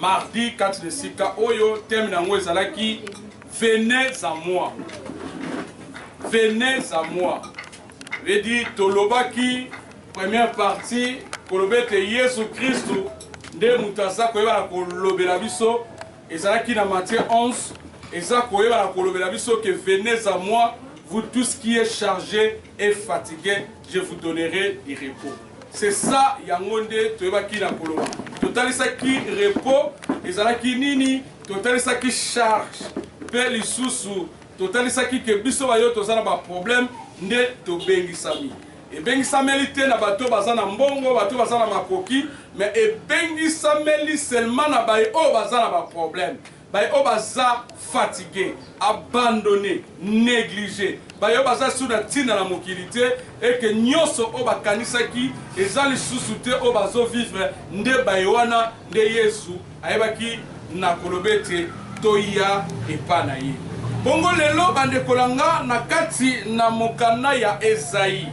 Mardi kati na esika oyo thème na yango ezalaki venez à moi. Venez à moi. Veut dire tolobaki première partie koloba ete Yesu Kristu nde moto aza koyebana kolobela biso ezalaki na Matthieu 11 eza koyebana kolobela biso que venez à moi vous tous qui est chargé et fatigué je vous donnerai du repos. C'est ça yango nde toyebaki na koloba. Totalisaki repos ezalaki nini, totalisaki charge pe lisusu totalisaki ke biso bayo toza na ba problème nde tobengisami. Ebengisameli te na bato baza na mbongo, bato baza na makoki, mais ebengisameli seulement na baye oyo baza na ba problème. Baye oyo baza fatigue, abandonne, neglige, baye oyo baza lisusu na tina na mokili te et que nionso oyo bakanisaki eza lisusu te oyo bazo vivre nde baye wana nde Yesu ayebaki na koloba ete toya epa na ye. Bongo lelo bandeko na nga na kati na mokanda ya Esaie,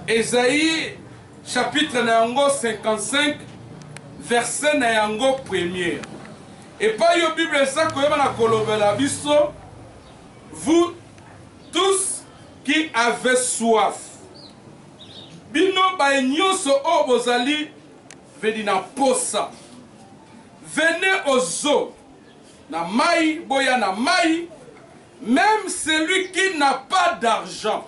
Esaie chapitre na yango 55 verset na yango premier. Epai yo bible eza koyeba na kolobela biso vous tous qui avez soif bino baye nionso oyo bozali vedi na posa venez au zoo na mayi boya na mayi meme celui qui n'a pas d'argent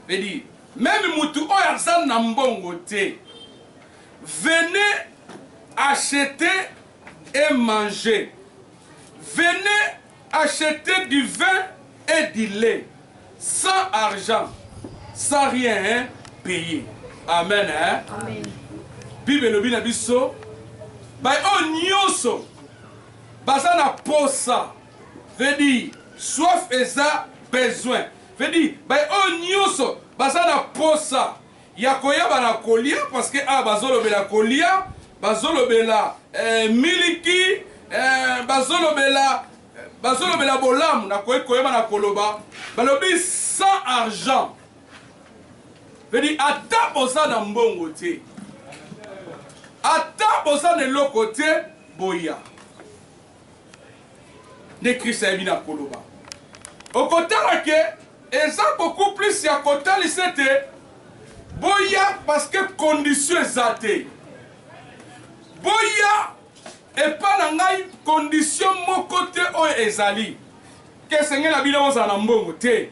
Pe dit meme mutu oyo aza na mbongo te venez acheter et manger venez acheter du vin et du lait sans argent sans rien hein payer amen hein amen bible elobi na biso baye oyo oh, nyonso baza na posa veut dire soif eza besoin Veut dire baye oyo nioso baza na posa ya koyaba na kolia parce que awa bazolobela kolia bazolobela eh, miliki eh, bazolobela bazolobela bolamu nakoki koyeba na koloba balobi sans argent veut dire ata boza na mbongo te ata boza na eloko te boya nde Christ ayebi na koloba. Okotala ke eza beaucoup plus ya kotalisa ete boya parce que condition eza te. Boya epa na ngai condition moko te oyo ezali ke esengeli na bino bozala na mbongo te,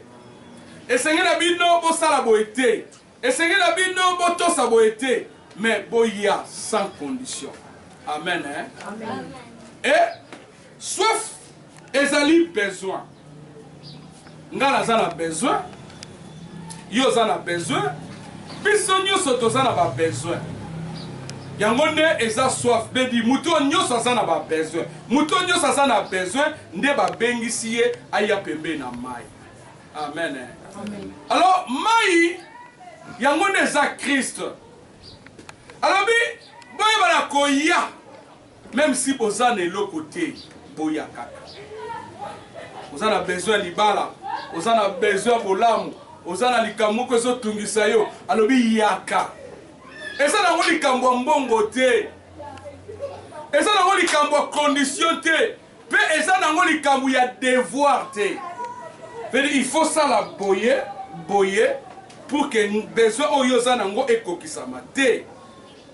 esengeli na bino bosala boye te. Esengela bino botosa boye te mais boya sans condition amen hein? Amen. et soif ezali besoin nga naza na besoin yo oza na besoin biso nyonso toza na babesoin yango nde eza soif bebi moto oyo nyonso aza na babesoin moto oyo nyonso aza na besoin nde babengisi ye aya pembeni na mai Amen. Amen. Alors, mai, yango nde eza Christ. Alobi, boyeba na koya, même si boza na eloko te, boya kaka. Oza na besoin libala, oza na besoin bolamu, oza na likambo moko ezotungisa yo, alobi yaka. Eza nango likambo ya mbongo te. Eza nango likambo ya condition te. Pe eza nango likambu ya devoir te veut dire il faut sala boye boye pour que besoin oyo oza nango ekokisama te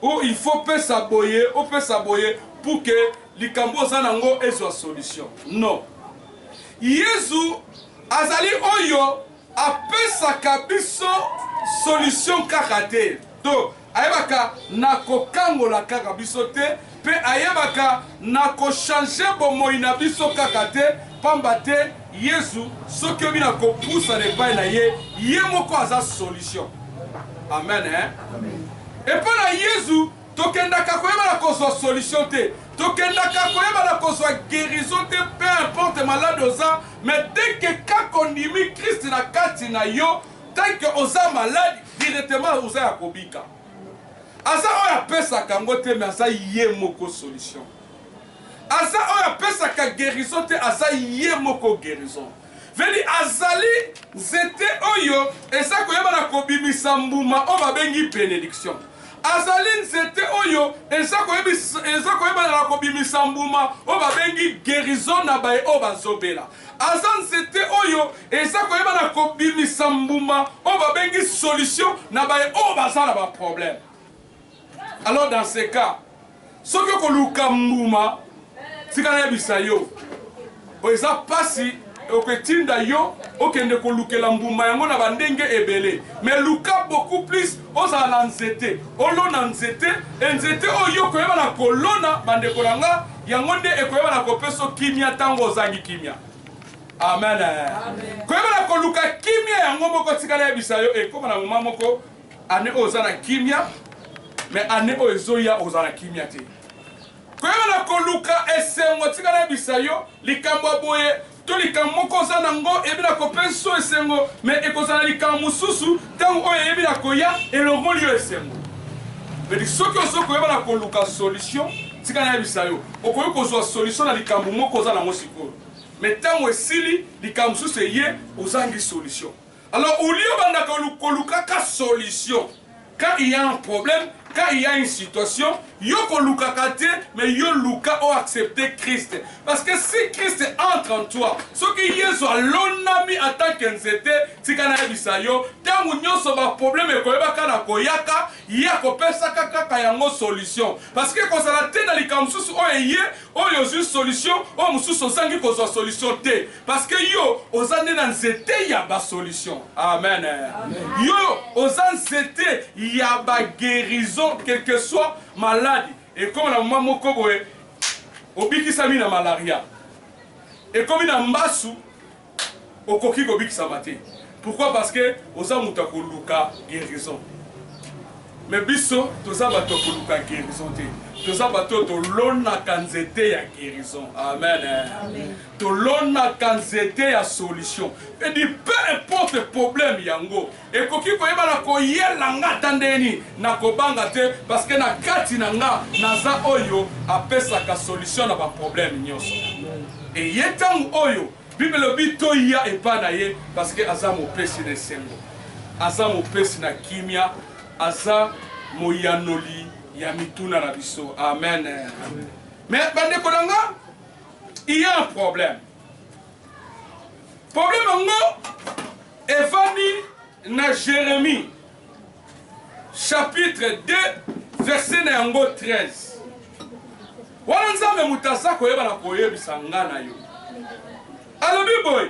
ou il faut pesa boye opesa boye pour que likambu oza nango ezua solution non yezu azali oyo Apesaka biso solution kaka te, to ayebaka na kokangola kaka biso te, mpe ayebaka na ko changer bomoyi na biso kaka te, pamba te Yezu soki oyebi na kopusana epai na ye, ye moko aza solution. Amen ee. Epai na Yezu. Tokendaka koyebana kozwa solution te, tokendaka koyebana kozwa guerison te, peu importe malade oza, mais dès que kaka ondimi Christ na kati na yo, tant que oza malade, directement oza ya kobika. Aza oyo apesaka yango te, mais aza ye moko solution. Aza oyo apesaka guerison te, aza ye moko guerison. Vedi azali nzete oyo ezali koyeba na kobimisa mbuma oyo babengi benediction. Azali nzete oyo ezali koyeba na kobimisa mbuma oyo babengi guerison na baye oyo bazobela. Aza nzete oyo ezali koyeba na kobimisa mbuma oyo babengi solution na baye oyo baza na ba probleme. Alors dans ce cas soki okoluka mbuma tika nayebisa yo oyo eza mpasi okotinda yo okende kolukela mbuma yango na bandenge ebele mais luka beaucoup plus ozala na nzete olona nzete e nzete oyo okoyeba na kolona bandeko na nga yango nde ekoyeba na kopeso kimia ntango ozangi kimia amen koyeba na koluka kimia yango moko tikala yebisa yo ekoma na moma moko Annee oyo oza na kimia mais annee oyo ezoya okozala na kimia te. Koyeba na koluka esengo tika nayebisa yo likambo ya boye to likambo moko oza na ngo eyebi na kopesi yo esengo mais ekozala likambo mosusu ntango oyo eyebi na koya elongoli yo esengo. Mais soki ozo koyeba na koluka solution tika nayebisa yo okoki kozwa solution na likambo moko oza na ngo sikoyo mais ntango esili likambo mosusu eye ozangi solution. Alors au lieu banda koluka ka solution quand il y a un problème, quand il y a une situation, yo kolukaka te, mais yo luka o accepter Christ. Parce que si Christ entre en toi, ce qui Yesu alonami en tant que nzete, tika na yebisa yo, tango nyoso ba problème ekoyebaka na koyaka, ye akopesaka kaka yango solution. Parce que kozala te na likambo mosusu oyo eye, oyo ozwi solution, oyo mosusu ozangi kozwa solution te. Parce que yo oza nde na nzete ya ba solution. Amen. Amen. Yo oza nzete ya ba guerison quelque soit malade. Et comme na mwa moko boye obikisami na malaria. Et comme na mbasu okoki kobikisama te. Pourquoi? Parce que oza moto ya koluka guerison. Mais biso toza bato ya koluka guerison te. Toza bato tolonaka nzete ya guerison. Amen. Amen. Tolonaka nzete ya solution edi peu importe problème yango ekoki koyebana koyela nga ata ndenge nini nakobanga te parce que na kati na nga naza oyo apesaka solution na ba problème nionso eye tango oyo bible elobi toya epa na ye parce que aza mopesi na esengo aza mopesi na kimia aza moyanoli ya mituna na biso amen, amen. mais bandeko na nga il y a un problème problème yango evandi na jérémie chapitre 2 verset na yango 13 wana nzambe moto aza koyeba na koyebisa nga na yo alobi boye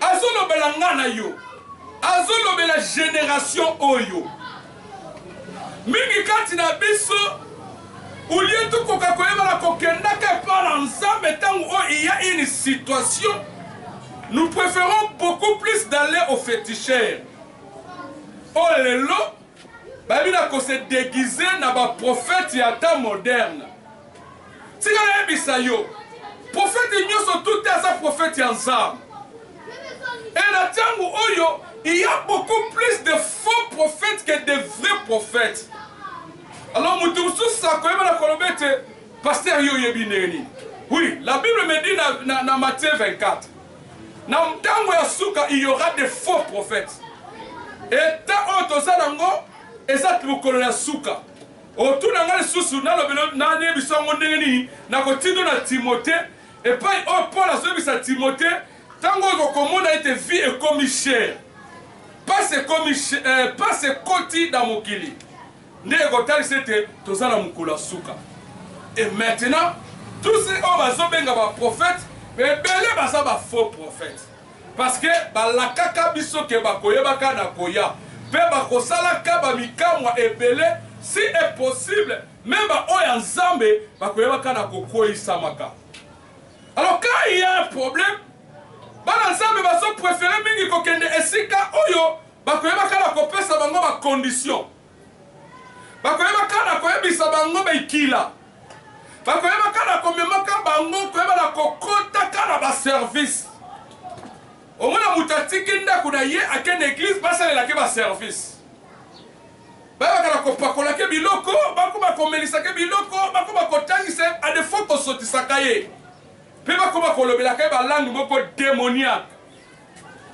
Azo lobela nga na yo. Azo lobela generation oyo. Mingi kati na biso ulie tokoka koyebana kokendaka epa na Nzambe tango oyo il y a une situation nous préférons beaucoup plus d'aller au féticheur. Oyo lelo Bayebi na ko se deguiser na ba prophètes ya temps moderne. Tika nayebisa yo, prophète nionso tout te aza prophète ya Nzambe. Et na tango oyo, il ya beaucoup plus de faux prophètes que de vrais prophètes. Alors mutu mosusu akoyeba na koloba ete pasteur yo oyebi ndenge nini? Oui, la Bible me dit na, na, na Matthieu 24. Na tango ya suka il y aura des faux prophètes. Et temps oyo toza nango eza mokolo ya suka. Otuna nga lisusu nalobelo nayebisa yango ndenge nini nakotindo na Timothée epai oyo Paul azoyebisa Timothée tango oyo kokomona ete vie ekomi chère. Pasi ekomi eh, pasi ekoti na mokili. nde ekotalisa ete toza na mokolo ya suka et maintenant tout ce oyo bazo benga ba prophète ebele baza ba faux prophète parce que balakaka biso ke bakoyebaka na koya pe bakosalaka ba mikamwa ebele si est possible meme ba oyo ya nzambe bakoyebaka na kokweyisamaka alors quand il y a un problème bana nzambe bazo prefere mingi kokende esika oyo Bakoyeba kaka kopesa bango ba conditions. Bakoyeba kaka koyebisa bango bikila. Bakoyeba kaka komemaka bango koyeba na kokota kaka na ba service. Omona moto atiki ndako na ye ake na eglise basalelake ba service. Bayebaka na kopakolake biloko, bakoba komelisake biloko, bakoba kotangisa a defaut kosotisaka ye. Mpe bakoba kolobelaka ye ba langue moko demoniaque.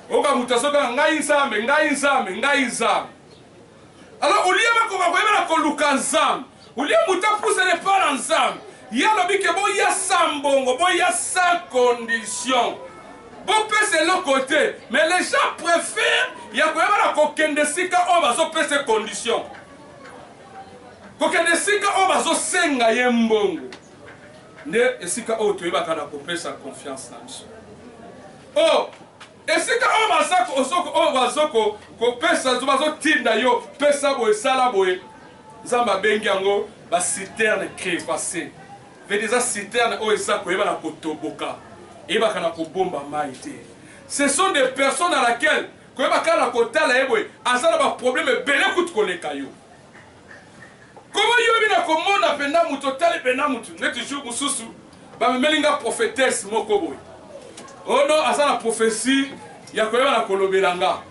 Oyoka moto azo benga ngai Nzambe, ngai Nzambe, ngai Nzambe. Alors au lieu bakoma koyebana koluka Nzambe, au lieu moto apusana epai na Nzambe, ye alobi ke boya sa mbongo, boya sa condition. Bopesa eloko te, mais les gens preferent ya koyebana kokende esika oyo bazopesa ye condition. Kokende esika oyo bazosenga ye mbongo. Nde esika oyo toyebaka na kopesa confiance na biso. Oh, esika oyo bazako osoko oyo bazoko kopesa zo bazotinda yo pesa boye sala boye. Nzambe abengi yango ba citerne crevasse. Vedi eza citerne oyo eza koyeba na kotoboka. Eyebaka na kobomba mai te. Ce sont des personnes à laquelle koyeba kaka na kotala ye boye aza na ba problème ebele kutu koleka yo. Koma yo bina komona penda mutu otali penda mutu neti jour mususu ba memeli nga prophetesse moko boye oh non aza na prophetie ya koyeba na kolobela nga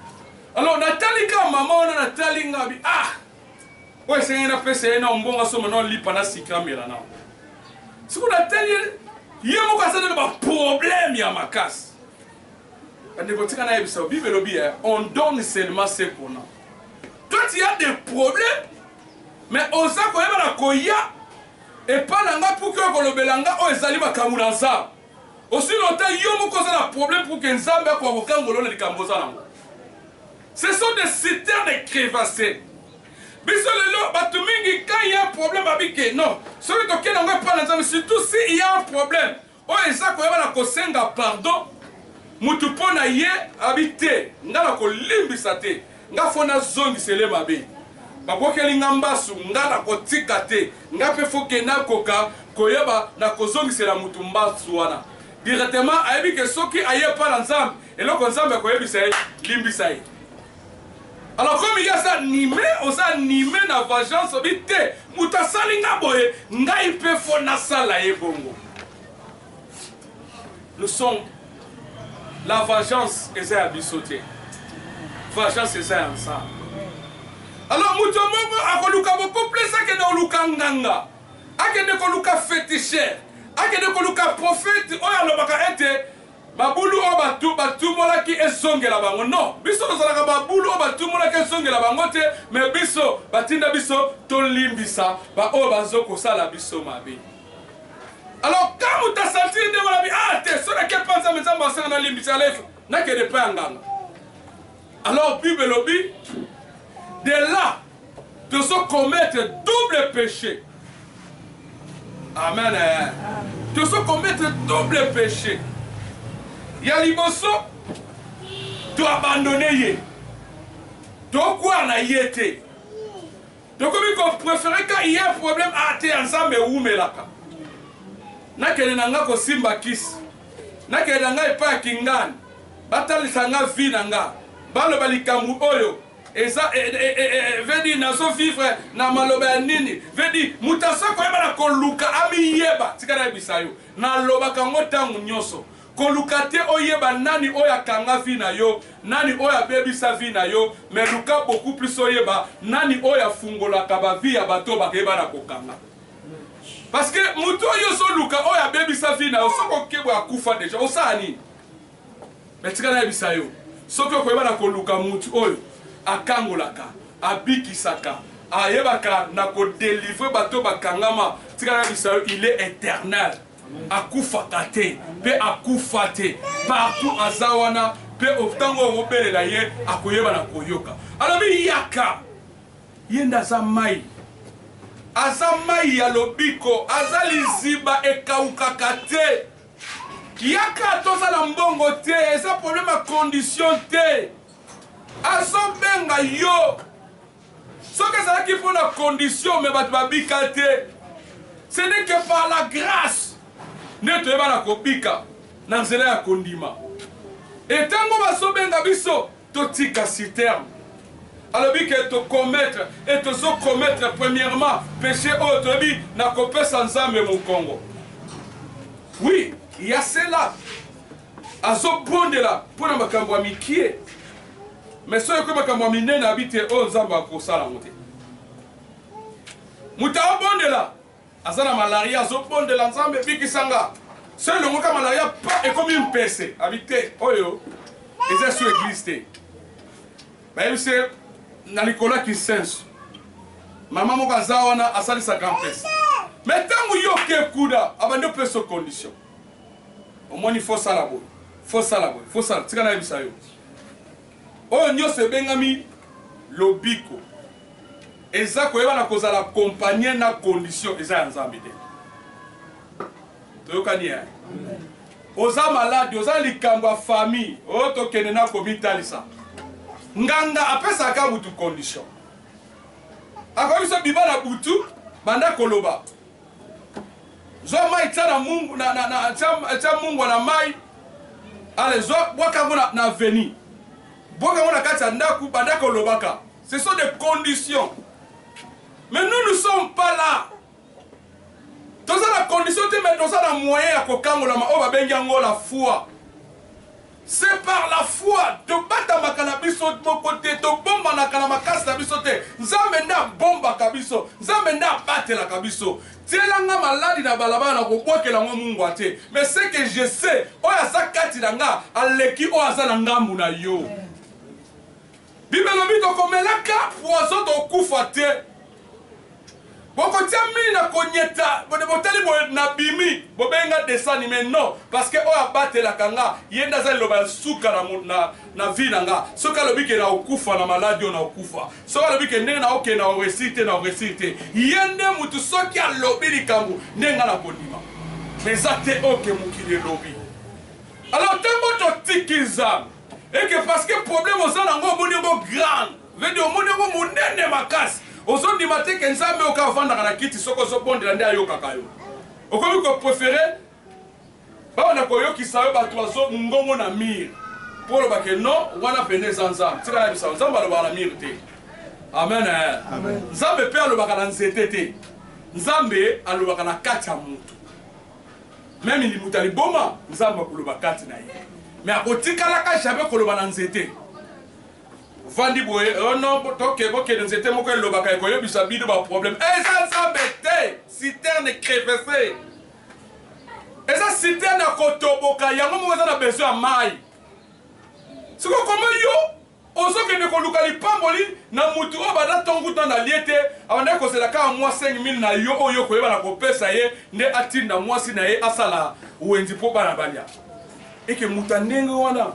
alors natali ka mama wana natali nga bi ah oyo esengeli napesa ye na mbongo asomba na olipa na sika amela na siko natali ye moko aza na baproblème ya makasi Bandeko tika nayebisa yo bible elobi eh, on donne seulement ce qu'on a. Toi tu as des problèmes mais oza koyeba na koya epa na nga puki oyo kolobela nga oyo ezali makambo na nzambe osino ata yo moko oza na problème puki nzambe akoka kokangolo na likambo oza nango ce sont des citères de crevasse biso lelo bato mingi quand il y a problème babike non soki tokenda yango epa na nzambe surtout si il y a un problème Oyo eza koyeba na kosenga pardon mutu po na ye abi te nga na kolimbisa te nga fo na zongisele mabe babwakeli nga mbasu nga na kotika te nga pe fo ke na koka koyeba na kozongisela mutu mbasu wana directement ayebi ke soki aye epa na nzambe eloko nzambe akoyebisa ye limbisa ye Alors comme il y a ça nime oza nime na vengeance obi te moto asali nga boye ngai mpe fo nasala ye bongo nous sommes la vengeance eza ya biso te vengeance eza ya nzambe alors moto moko akoluka bokoplesa akende koluka nganga akende koluka fetisher akende koluka profete oyo alobaka ete Mabulu oyo bato batumolaki ezongela bango. Non, biso tozalaka mabulu oyo batumolaki ezongela bango te, mais biso batinda biso tolimbisa ba oyo bazo kosala biso mabe. Alors quand moto a sentir ndenge wana bi ah te, soki nake epa Nzambe, Nzambe asala nalimbisa, nakende epa ya nganga. Alors bible elobi de là tozo commettre double péché. Amen. Tozo commettre double péché. Ya liboso to abandonne ye. Tokwaa na ye te. Tokomi ko prefere ka il y'a problème a teya nzambe wumelaka nakende na nga ko simba kisi nakende na nga epa ya kingani batalisa nga vie na nga baloba likambu oyo eza e, e, e, e, e veut dire nazo vivre na maloba ya nini veut dire mutu aza koyeba na koluka amiyeba tika nayebisa yo nalobaka ngo tangu nyoso Koluka te oyeba nani oyo akanga vie na yo, nani oyo abebisa vie na yo, mais luka beaucoup plus oyeba nani oyo afungolaka ba vie ya batu oyo bakeba na kokanga. Parce que mutu oyo ozo luka oyo abebisa vie na yo soki okebo akufa dejà osala nini? Mais tika nayebisa yo soki okoyeba na koluka mutu oyo akangolaka, abikisaka, ayebaka na ko delivrer batu oyo bakangama, tika nayebisa yo il est eternel. akufaka te pe akufa te partout aza wana pe tango oyo obelela ye akoyeba na koyoka alobi yaka ye nde aza mai aza mai ya lobiko aza liziba ekaukaka te yaka toza na mbongo te eza problème ya condition te azobenga yo Soki ezalaki mpo na condition mais bato babika te. Ce n'est que par la grace nde toyebana kobika na nzela ya kondima. Et tango bazobenga biso totika citerne alobi ke to commettre et tozo commettre premièrement peche oyo toyebi na kopesa Nzambe mokongo. Oui, il y a cela. Azobondela mpo na makambo ya mikie, mais soki ekomi makambo ya minene abi te oyo Nzambe akosala yango te. Moto abondela aza na malaria azobondela Nzambe bikisa nga. Soki elongo ka malaria pa ekomi mpese abi te oyo eza su eglise te. Bayebisi ye na likolo ya kisenso mama moko aza wana asalisaka mpese, mais ntango yo oke kuda abandi opesa condition Omoni faut sala boye faut sala boye faut sala tika nayebisa yo oyo nyoso ebengami lobiko eza koyeba na kozala accompagne na condition eza ya nzambe te toyokani ya oza maladi oza likambo ya famille oyo oh, tokende na komitalisa nganga apesaka butu condition akoki biso biba na butu banda koloba Zwa mai tia na mungu na na na tia tia mungwa na mai. Ale zwa bwaka yango na, na veni. Bwaka yango na kati ya ndaku banda kolobaka. Ce sont des conditions. Mais nous ne sommes pas là. Toza na condition te mais toza na moyen ya kokangolama oyo babengi yango la foi. C'est par la foi tobatamaka na biso moko te, tobombanaka na makasi na biso te, Nzambe nde abombaka biso, Nzambe nde abatelaka biso. Tiela nga maladi na balabala nakobwakela ngo mungwa te, mais ce que je sais oyo aza kati na nga aleki oyo aza na ngambu na yo. Bible elobi tokomelaka poison tokufa te. Bokotia mini na konyeta botali boye na bimi bobengi nga dessin anime non parce que oyo abatelaka nga ye nde aza liloba ya suka na, na, na vie na nga soki alobi ke na okufa na maladi oyo na okufa soki alobi ke ndenge na oke na oresir te na oresir te ye nde mutu soki alobi likambo nde nga na kondima eza te oke mokili elobi alors ntango totiki nzambe et que parce que problème oza na ngo omoni ngo grande veut dire omoni ngo munene makasi ozo ndima te que nzambe oka avandaka na kiti soki ozo bondela nde ayokaka yo okomi ko prefere babanda koyokisa yo bato bazo mongongo na mire mpo oloba ke non wana pene eza nzambe tika nayebisa nzambe alobaka na mire te amen eh. nzambe mpe alobaka na nzete te nzambe alobaka na kati ya moto Meme limuta liboma nzambe akoloba kati na ye mais akotikalaka jamais koloba na nzete vandi boye oh non toke bokende nzete moko elobaka ekoyebisa bino ba problème eza nzambe te citerne crevese eza citerne ya kotoboka yango moko eza na besoin ya mai siko koma yo Ozo kende koluka lipamboli na mutu oyo banda tongu temps na lie te abandaki kozela kaka mua 5000 na yo oyo yo koyeba na kopesa ye nde atinda muasi na ye asala wenzi po bana balia et que mutu ya ndenge wana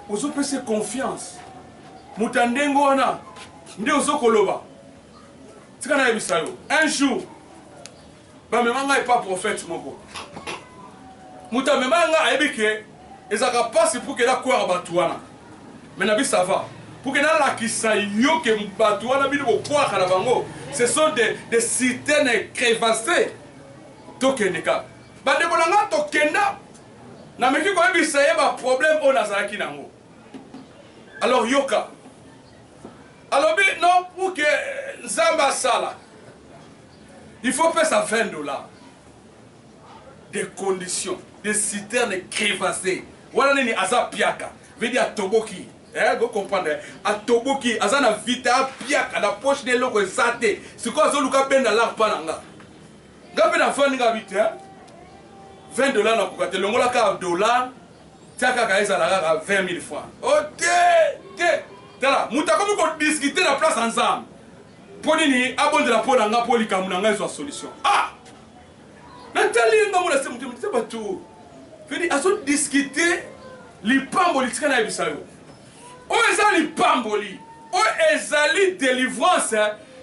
ozo pesa ye confiance mutu ya ndenge wana nde ozo koloba tika nayebisa yo un jour Bamema ngai epa prophète moko. Moto amema ngai ayebi ke ezalaka pasi pour ke na kwara bato wana. Mais na bi ça va. Pour ke nalakisa yo ke bato wana bino bokwaka na bango ce sont des, des citernes crevassées. Tokende kaka. Bandeko na ngai tokenda nameki koyebisa ye baproblème oyo nazalaki na yango alors yoka alobi non puke nzambe asala Il faut pesa 20 dollars de condition de citerne crevasse wana nini aza piaka vedi atoboki eh, go comprendre atoboki aza na vita apiaka na poche na eloko eza te sikoyo azoluka benda lar mpa na nga nga mpe nafandi nga bi te 20 dollar nakoka te longola kaka dollar tia kaka ezala kaka 20 000 francs o oh, te te tala moto akomi kodiskute na place ya nzambe Mpo nini abondela mpo na ngai mpo likambo na ngai ezwa solution? Ah! Natali ye ngambo na se motema te bato. Fedi azo discuter lipamboli tika nayebisa yo. Oyo eza lipamboli. Oyo ezali delivrance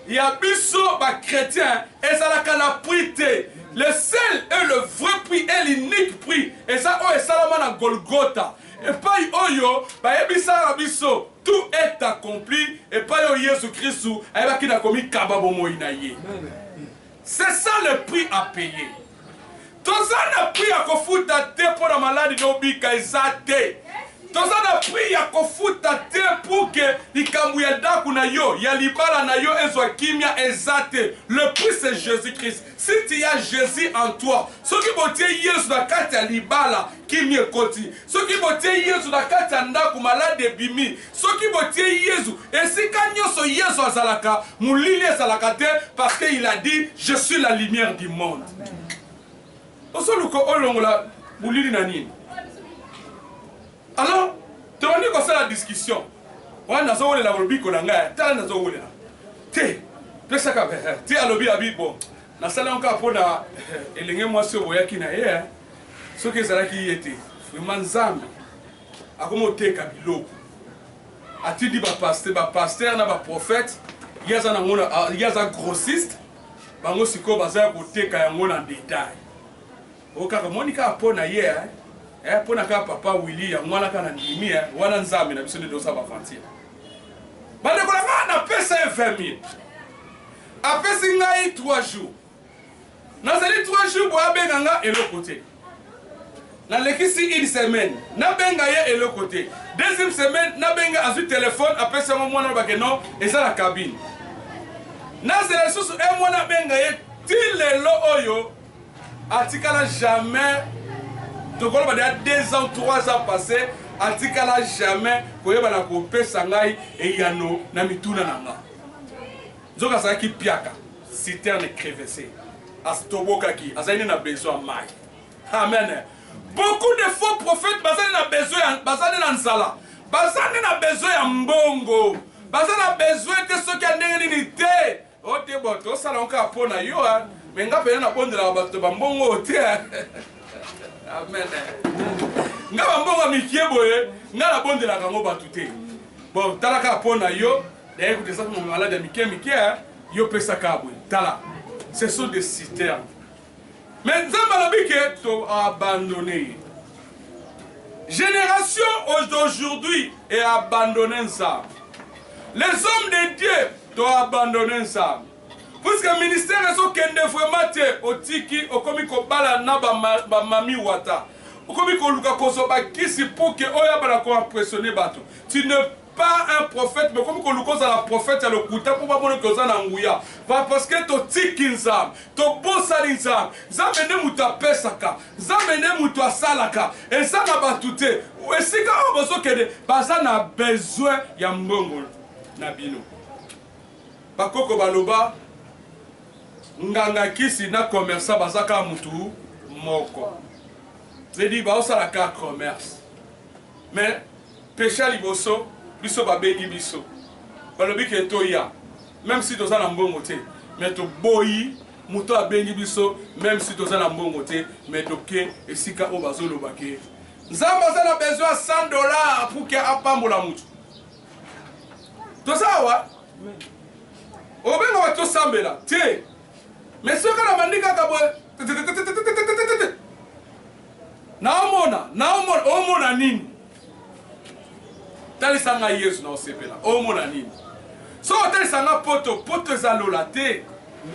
ya biso ba chrétiens ezalaka na prix te. Le seul et le vrai prix et l'unique prix eza oyo esalama na Golgotha. Epai oyo bayebisaka biso tout est accompli epai oyo Yesu Kristu ayebaki na komikaba bomoyi na ye. C'est ça le prix à payer. Toza na prix ya kofuta te mpo na maladi na obika eza te. Toza na prix ya kofuta te pour que likambo ya daku na yo, ya libala na yo ezwa kimia eza te. Le prix c'est Jesus Christ. Si tu as Jesus en toi, soki botie Yesu na kati ya libala, Kimia ekoti soki botiei Yezu na kati ya ndako, maladi ebimi soki botiei Yezu esika nionso. Yezu azalaka, molili ezalaka te parce que il a dit je suis la lumière du monde. Ozoluka olongola molili na nini? Alors tobandi kosala discussion wana nazowelela lobiko na ngai tala nazowelela te pesaka te alobi abi bon nasala yango kaka mpo na elenge mwasi oyo boyaki na ye Soki ezalaki ye te vraiment nzambe akomi oteka biloko atindi ba pasteur ba pasteur na ba prophète ye aza nango na ah, ye aza grossiste bango sikoyo baza ya koteka yango na detail o kaka moni kaka mpo na ye eh, eh mpo na kaka papa willi yango wana kaka na ndimi eh, wana nzambe na biso nde toza baventure bandeko na ngai napesa ye 20 000 apesi ngai 3 jours Nazali trois jours boye abenga nga eloko te. Nalekisi une semaine nabenga ye eloko te. Deuxième semaine nabenga azwi telefone apesi yango mwana aloba ke non eza na kabine. Nazela lisusu un mois nabenga ye ti lelo oyo atikala jamais tokoloba deja deux ans trois ans passé atikala jamais koyeba na kopesa ngai eyano na mituna na nga. Nzoka azalaki mpiaka, citerne crevesse, atobokaki, azali nde na besoin ya mayi. Amen. Beaucoup de faux prophètes baza nde na besoin ya, baza nde na nzala, baza nde na besoin ya mbongo, baza na besoin te soki ya ndenge nini te. O oh, te bo tosala yango kaka mpo na yo, me nga mpenza nabondelaka bato bambongo te. Amen. Nga bambongo ya mikie boye, nga nabondelaka yango bato te. Bon, tala kaka mpo na yo. D'ailleurs kutu eza kuma malade ya mike mike hein. Yo pesa kabwe tala. Ce sont des citernes. Mais Nzambe alobi ke to abandonne ye. Génération d'aujourd'hui est abandonné Nzambe. Les hommes de Dieu to abandonne Nzambe. Puisque ministère ezokende vraiment te otiki okomi kobala na bamami ba wata okomi koluka kozwa bakisi mpo ke oyo abala koimpressionne bato tu ne pas un prophète bokomi koluka ozala prophète ya lokuta mpo bamona ete oza na nguya va parce que totiki nzambe tobosani nzambe nzambe nde moto apesaka nzambe nde moto asalaka eza na bato te esika oyo bozokende baza na besoin ya mbongo na bino bakoko baloba nganga kisi na commerçant baza kaka motu moko zedi baosala kaka commerce mais Peche ya liboso biso ba bengi biso balobi ke toya meme si toza na mbongo te mais toboyi moto oyo abengi biso meme si toza na mbongo te mais toke esika oyo bazo loba ke nzambe aza na besoin ya 100 dollars pour ke apambola moto toza awa obenga bato tosambela te mais soki na bandi kaka boye Naomona, naomona, omona nini? Talisa nga Yezu naosepela, omona nini? Soki otalisa nga poto, poto eza lola te,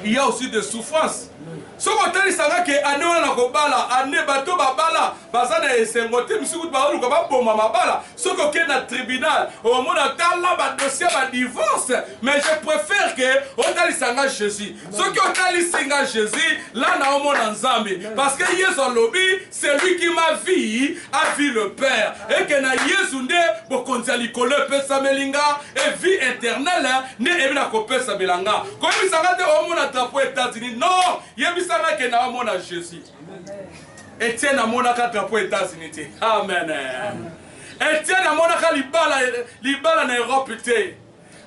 il y a aussi de souffrance. Soki otalisa nga ke ane wana nakobala, ane bato babala baza na esengo te, misi kutu baoluka baboma mabala. Soki okei na tribunal, omona tala ba dossier ba divorce, mais je prefere ke otalisa nga Jesus. soki otalisi nga jesus la naomona nzambe parce que yesu alobi celui qui ma vie avi le père eke na yesu nde bokonzi ya likolo epesameli nga e vie éternelle nde ebi na kopesamela nga koyebisa nga te omona drapo états-unis non yebisa nga ke na omona jesus etienne amonaka drapo états-unis te amen etienne amonaka libala na europe te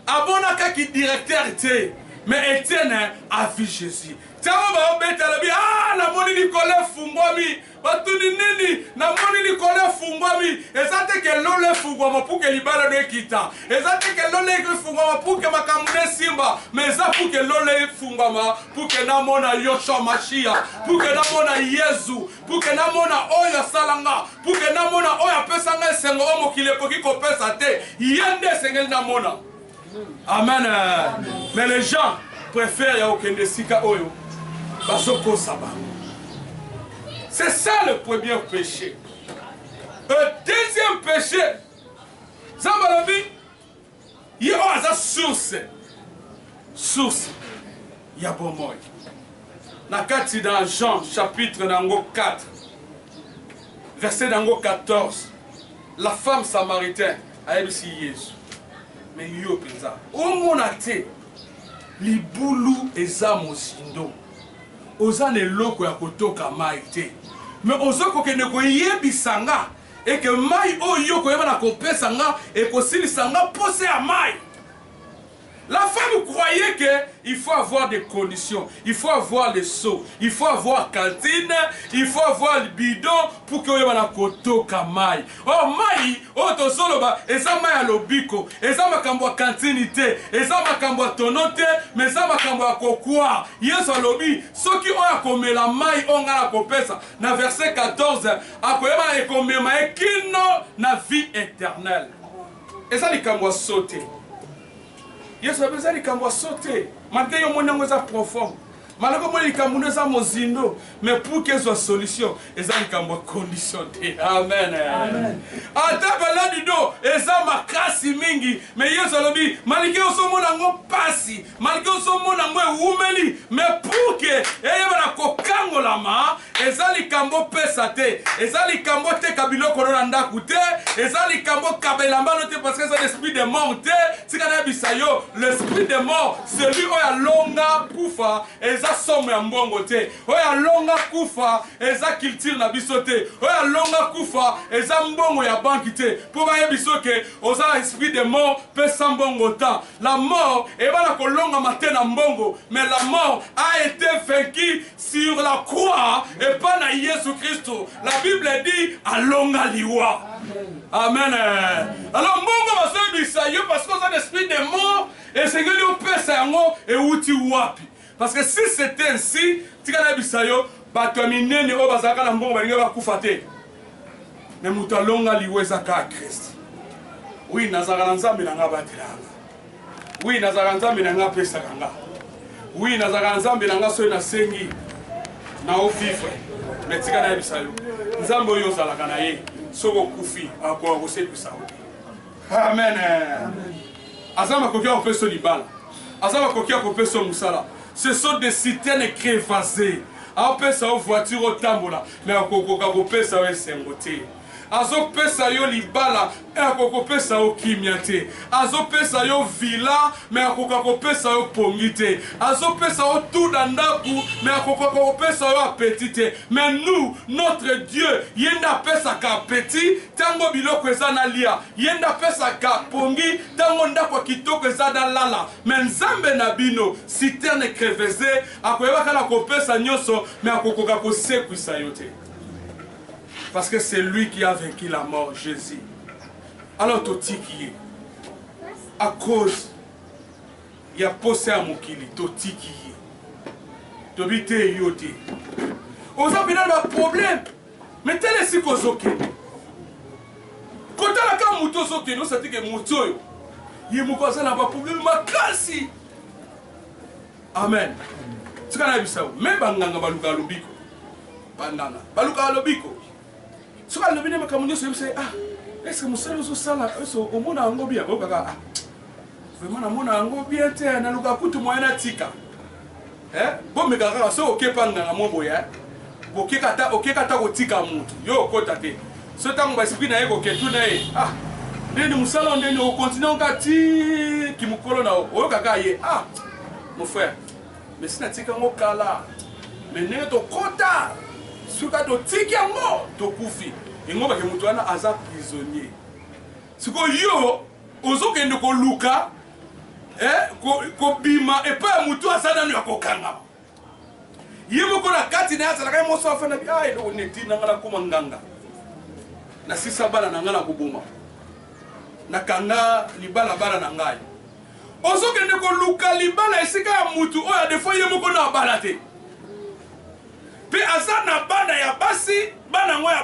Amonaka ki directeur tse mais Etienne a vu Jesus. Tango bao beta alobi aah namoni likolo efungwami. Batuni nini? Namoni likolo efungwami. Eza te ke lola efungwama pour ke libala no ekita. Eza te ke lola efungwama pour ke makambo no esimba mais eza pour ke lola efungwama pour ke namona Yoshua Mashiach. Pour ke namona Yezu. Pour que namona oyo asala nga, pour que namona oyo apesa nga esengo oyo mokili ekoki kopesa te, ye nde esengeli namona. Amen. Mais les gens préfèrent ya okende esika oyo bazokosa bango. C'est ça le premier péché. Le deuxième péché, Zambalabi, Ye oyo aza source, source ya bomoi. Na kati na Jean chapitre na yango 4 verset na yango 14, la femme samaritaine ayebisi Yesu, me yo mpenza omona te libulu eza mozindo, oza na eloko ya kotoka mai te, me oza kokende koyebisa nga Et que mayi oyo yo okoyeba na kopesa nga ekosilisa nga posa ya mayi. La femme croyait que il faut avoir des conditions, il faut avoir le seau, il faut avoir cantine, il faut avoir le bidon pour que oyeba na kotoka mayi. Oh mayi oyo tozoloba eza mayi ya lobiko, eza makambo ya cantine te, eza makambo ya tono te, mais eza makambo ya kokwa. Yesu alobi soki oyo akomela mayi oyo nga nakopesa na verset 14 akoyeba ekomema ye kino na vie eternelle eza likambo ya so te yesu abe eza likambo ya so te malgre yo omoni yango eza profond malgre omoni likambo ndo eza mozindo mais pour ke ezwa solution eza likambo ya condition te amen ata baladi do eza makasi mingi mais yesu alobi malgre osomona yango mpasi malgre ozomona yango ewumeli mais pour que eyebana kokangolama eza likambo opesa te eza likambo oteka biloko no na ndako te eza likambo okaba elamba no te parce que eza l'esprit de mort te tika nayebisa yo l'esprit de mort celui oyo alonga kufa eza somo ya mbongo te oyo alonga kufa eza culture na biso te oyo alonga kufa eza mbongo ya banki te mpo bayebiso ke oza na esprit de mort pesa mbongo temps La mort ebana kolongama te na mbongo mais la mort a ete vaincu sur la croix epa na Yesu Christo la Bible dit alonga liwa amen alors mbongo bazoyebisa yo parce que oza na esprit de mort esengeli opesa yango ewuti wapi Parce que si c'est ainsi, tika nayebisa yo, batu ya minene oyo bazalaka na mbongo balingaki bakufa te. Mais mutu alonga liwa eza kaka Christ. Oui, nazalaka na Nzambe na nga abatelaka nga. Oui, nazalaka na Nzambe na nga apesaka nga. Oui, nazalaka na Nzambe na nga soki nasengi na o vivre. Mais tika nayebisa yo, Nzambe oyo ozalaka na ye, soki okufi akoka kosekwisa yo. Amen. Amen. aza makoki ya kopesa libala aza bakoki ya kopesa yo mosala ce sont des citernes crevases apesa yo voiture otambola me akokoka kopesa yo esengo te azopesa yo libala me akokopesa yo kimia te azopesa yo vila me akoka kopesa yo pongi te azopesa yo tu na ndako me akokoka kopesa yo apeti te me nous notre dieu ye nde apesaka apeti Tango biloko eza na lia ye nde apesaka pongi tango ndako ya kitoko eza na lala mais nzambe na bino citerne crevese akoyeba kaka kopesa nionso mais akokoka kosekwisa yo te parce que c'est lui qui a vaincu la mort jesus alors totiki ye à cause ya posa ya mokili totiki ye tobi te yo te oza mpena na problème Mais tala esika ozokende. Kotala kaka moto ozokende osati ke moto oyo ye moko aza na baprobleme makasi. Amen. Tika nayebisa yo, me banganga balukaka lobiko. Banganga balukaka lobiko. Soki alobi nde makambo nyonso oyebisa ye, ah, eske mosala ozosala eso omona yango bien? Bayokaka, ah, vraiment namona yango bien te, nalukaka kutu moyen natika. Eh bo meka kaka soki oke pa nganga mo boye eh boke kata oke kata ko tika mutu yo okota te so tango ba esprit na ye ko ke tu na ye ah ndeni musala ndeni o continue on ka ti ki mukolo na o oyo kaka ye ah mon frère mais si na tika ngo kala mais ndenge to kota suka to tiki yango to kufi yango bake mutu wana aza prisonnier sikoyo yo ozokende koluka eh, kobima ko epai ya motu aza nano ya kokangama ye moko na kati na ye azalaka ye moso afanda bi ah, eloko neti na ngai nakoma nganga nasisa bana na ngai na koboma nakanga libalabala na ngai ozokende koluka libala esika ya motu oyo adefo ye moko na abala te mpe aza na bana ya basi bana yango ya